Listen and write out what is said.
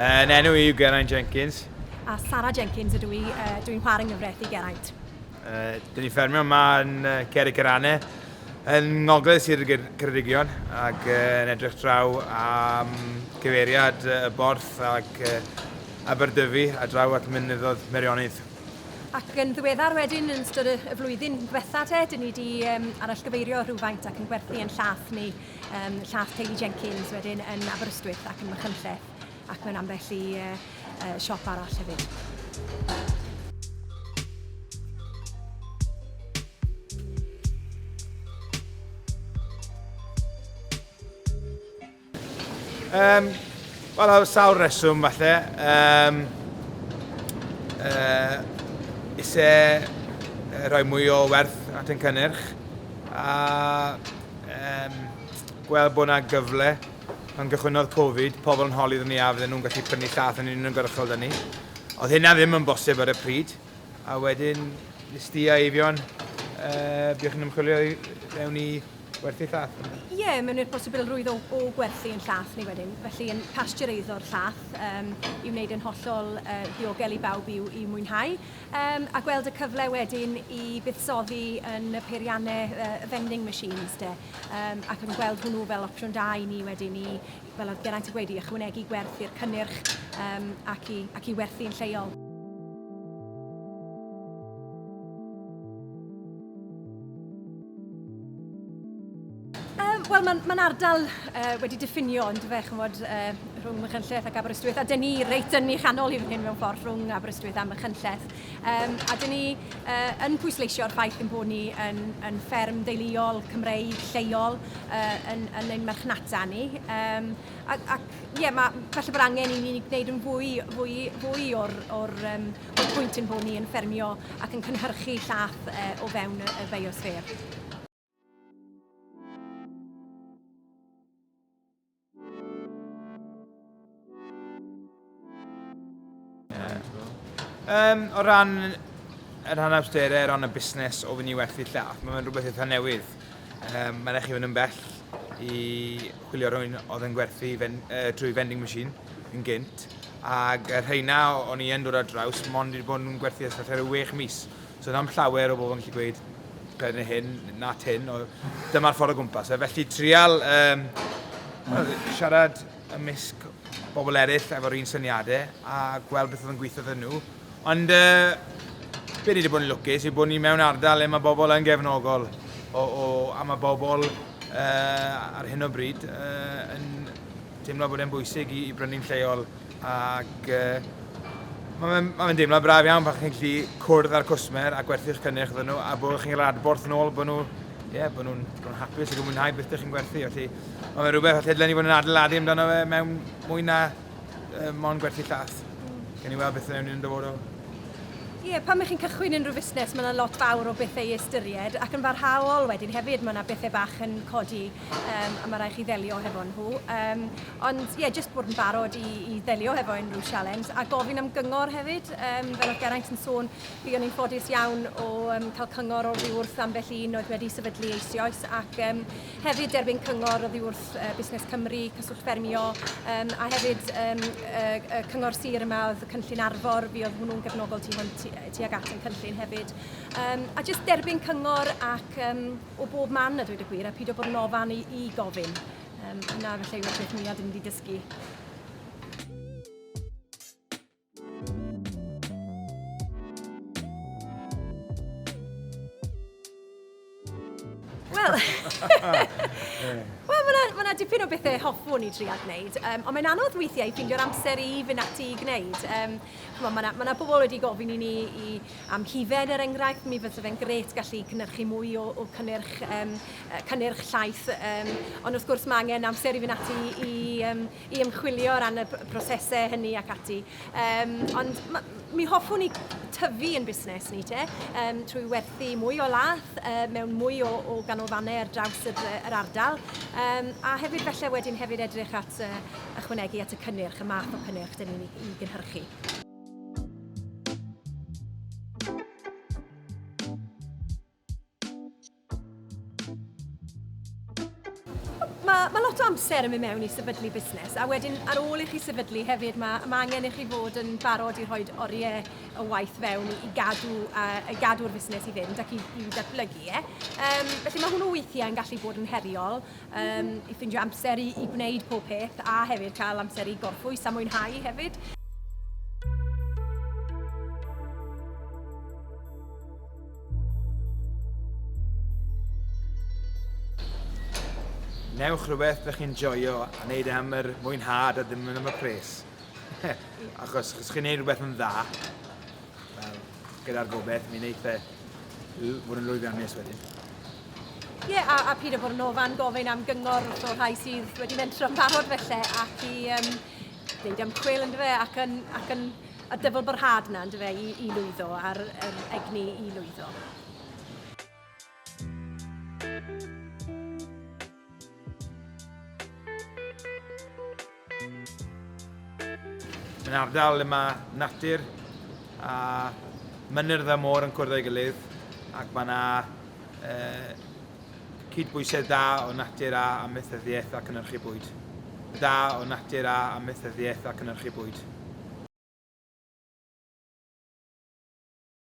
Yn enw i yw Geraint Jenkins. A Sarah Jenkins ydw i, uh, dwi'n chwarae nghyfraith i Geraint. Uh, dyn ni ffermio yma yn uh, Ceri Cerane, yn ngogledd Sir y Ceredigion, ac uh, yn edrych draw am cyfeiriad uh, y borth ac uh, Aberdyfi a draw at mynyddodd Merionydd. Ac yn ddiweddar wedyn, yn ystod y flwyddyn diwetha te, dyn ni wedi um, arallgyfeirio rhywfaint ac yn gwerthu yn llath ni. um, llath Teulu Jenkins wedyn yn Aberystwyth ac yn Machynlleth ac mewn ambell i uh, uh, siop arall hefyd. Um, Wel, o sawl reswm falle. Um, uh, ise rhoi mwy o werth at ein cynnyrch. A Yym, gweld bod yna gyfle. Pan gychwynnodd Covid, pobl yn holi iddyn ni a fydden nhw'n gallu prynu llaeth yn uniongyrchol 'da ni. Oedd hynna ddim yn bosib ar y pryd, a wedyn nes di a Eifion, uh, buo chi'n ymchwilio i mewn i werthu llaeth? Ie, yeah, mewn i'r posibilrwydd o, o gwerthu yn llaeth ni wedyn, felly yn pasteureiddio'r llaeth um, i wneud yn hollol uh, ddiogel i bawb i'w, i'w mwynhau. Yym, a gweld y cyfle wedyn i fuddsoddi yn y peiriannau yy y vending machines 'te. Yym ac yn gweld hwnnw fel opsiwn da i ni wedyn i, fel oedd Geraint yn gweud, i ychwanegu gwerth i'r cynnyrch yym ac i ac i werthu yn lleol. Um, Wel, mae'n ma ardal uh, wedi diffinio ond fe, chymod, uh, rhwng Machynlleth ac Aberystwyth, a dyn ni reit yn ei chanol i fan hyn mewn ffordd rhwng Aberystwyth a Machynlleth. Um, a dyn ni uh, yn pwysleisio'r ffaith yn bod ni yn, yn fferm deuluol Cymreig lleol uh, yn, yn ein marchnata ni. Um, ac, ac ie, ma, felly bod angen i ni wneud yn fwy, fwy, fwy o'r, or, um, or pwynt yn bod ni yn ffermio ac yn cynhyrchu llath uh, o fewn y, y biosfer. Um, o ran yr rhan awsterau, o ran y busnes o fyny werth i lla, mae'n mynd rhywbeth eitha newydd. Um, mae'n eich i fynd yn bell i chwilio rhywun oedd yn gwerthu fen, uh, trwy vending machine yn gynt. Ac y rheina o'n i yn dod ar draws, mond wedi bod yn gwerthu ystafell ar y 6 mis. So ddim llawer o bobl yn gallu gweud pethau neu hyn, na tin, o dyma'r ffordd o gwmpas. E. Felly trial um, siarad ymysg bobl eraill efo'r un syniadau a gweld beth oedd yn gweithio ddyn nhw. Ond uh, be ni wedi bod yn lwcus yw bod ni mewn ardal le mae bobl yn gefnogol o, o, a mae bobl uh, ar hyn o bryd uh, yn teimlo bod e'n bwysig i, i brynu'n lleol Ac mae fe'n ma fe deimlad braf iawn pan chi'n gallu cwrdd â'r cwsmer a gwerthu'ch cynnyrch iddyn nhw a bod chi'n cael adborth yn ôl bod nhw ie, bod nhw'n nhw hapus ac yn mwynhau beth ydych chi'n gwerthu. Felly, mae fe'n rhywbeth allai dylen ni fod yn adeiladu amdano fe mewn mwy na uh, mon gwerthu llath. Gan ni weld beth yn ewn yn dyfodol. Ie, yeah, pan mae chi'n cychwyn unrhyw fusnes, mae yna lot fawr o bethau i ystyried ac yn barhaol wedyn hefyd mae yna bethau bach yn codi um, a mae rhaid chi ddelio hefo nhw. Um, ond ie, yeah, jyst bod yn barod i, i ddelio hefo unrhyw sialens a gofyn am gyngor hefyd. Um, fel oedd Geraint yn sôn, fi o'n i'n ffodus iawn o um, cael cyngor o'r ddiwrth am felly un oedd wedi sefydlu eisioes ac um, hefyd derbyn cyngor o ddiwrth uh, Busnes Cymru, Cyswllt Ffermio um, a hefyd um, y, y cyngor sir yma oedd y cynllun arfor, fi oedd hwnnw'n gefnogol tu, tu, tu ag at yn cynllun hefyd. Um, a jyst derbyn cyngor ac um, o bob man a dweud y gwir, a pido bod yn ofan i, i gofyn. Um, na, felly yw'r peth mwyaf dyn ni wedi dysgu. Wel, Wel, mae yna dipyn o bethau hoffwn i dria gwneud, um, ond mae'n anodd weithiau i ffindio'r amser i fynd ati i gwneud. Um, mae yna ma bobl wedi gofyn i ni i am hufen er enghraifft, mi fysa fe'n grêt gallu cynhyrchu mwy o, o cynnyrch, um, cynnyrch llaeth. Um, ond wrth gwrs mae angen amser i fynd ati i, um, i ymchwilio o ran y prosesau hynny ac ati. Um, ond ma, mi hoffwn i tyfu yn busnes ni te, um, trwy werthu mwy o lath uh, mewn mwy o, o ganolfannau ar draws yr, yr ardal, um, a hefyd felly wedyn hefyd edrych at uh, ychwanegu at y cynnyrch, y math o cynnyrch dyn ni'n ei gynhyrchu. Mae ma lot o amser yn mynd mewn i sefydlu busnes a wedyn ar ôl i chi sefydlu hefyd mae ma angen i chi fod yn barod i rhoi oriau o waith fewn i gadw uh, i gadw'r fusnes i fynd ac i, i ddatblygu e. Um, felly mae hwnnw weithiau yn gallu bod yn heriol um, i ffindio amser i, i gwneud pob peth a hefyd cael amser i gorffwys a mwynhau hefyd. Newch rhywbeth ydych chi'n joio a wneud am yr mwynhad a ddim yn am y pres. achos os chi'n gwneud rhywbeth yn dda, Gyda'r gobeith, mi wneith e fod yn lwyddiannus wedyn. Ie, yeah, a, a Peter Bornofan gofyn am gyngor wrth o'r rhai sydd wedi mentro yn barod felly ac i um, wneud ymchwil yn dyfe ac yn, ac yn y dyfl byrhad yna yn dyfe i, i lwyddo a'r, yr egni i lwyddo. Yn ardal le mae natur a mynyrdd a môr yn cwrdd â'i gilydd ac mae yna uh, cydbwysedd da o natur a amaethyddiaeth a cynnyrchu bwyd. Da o natur a amaethyddiaeth a cynnyrchu bwyd.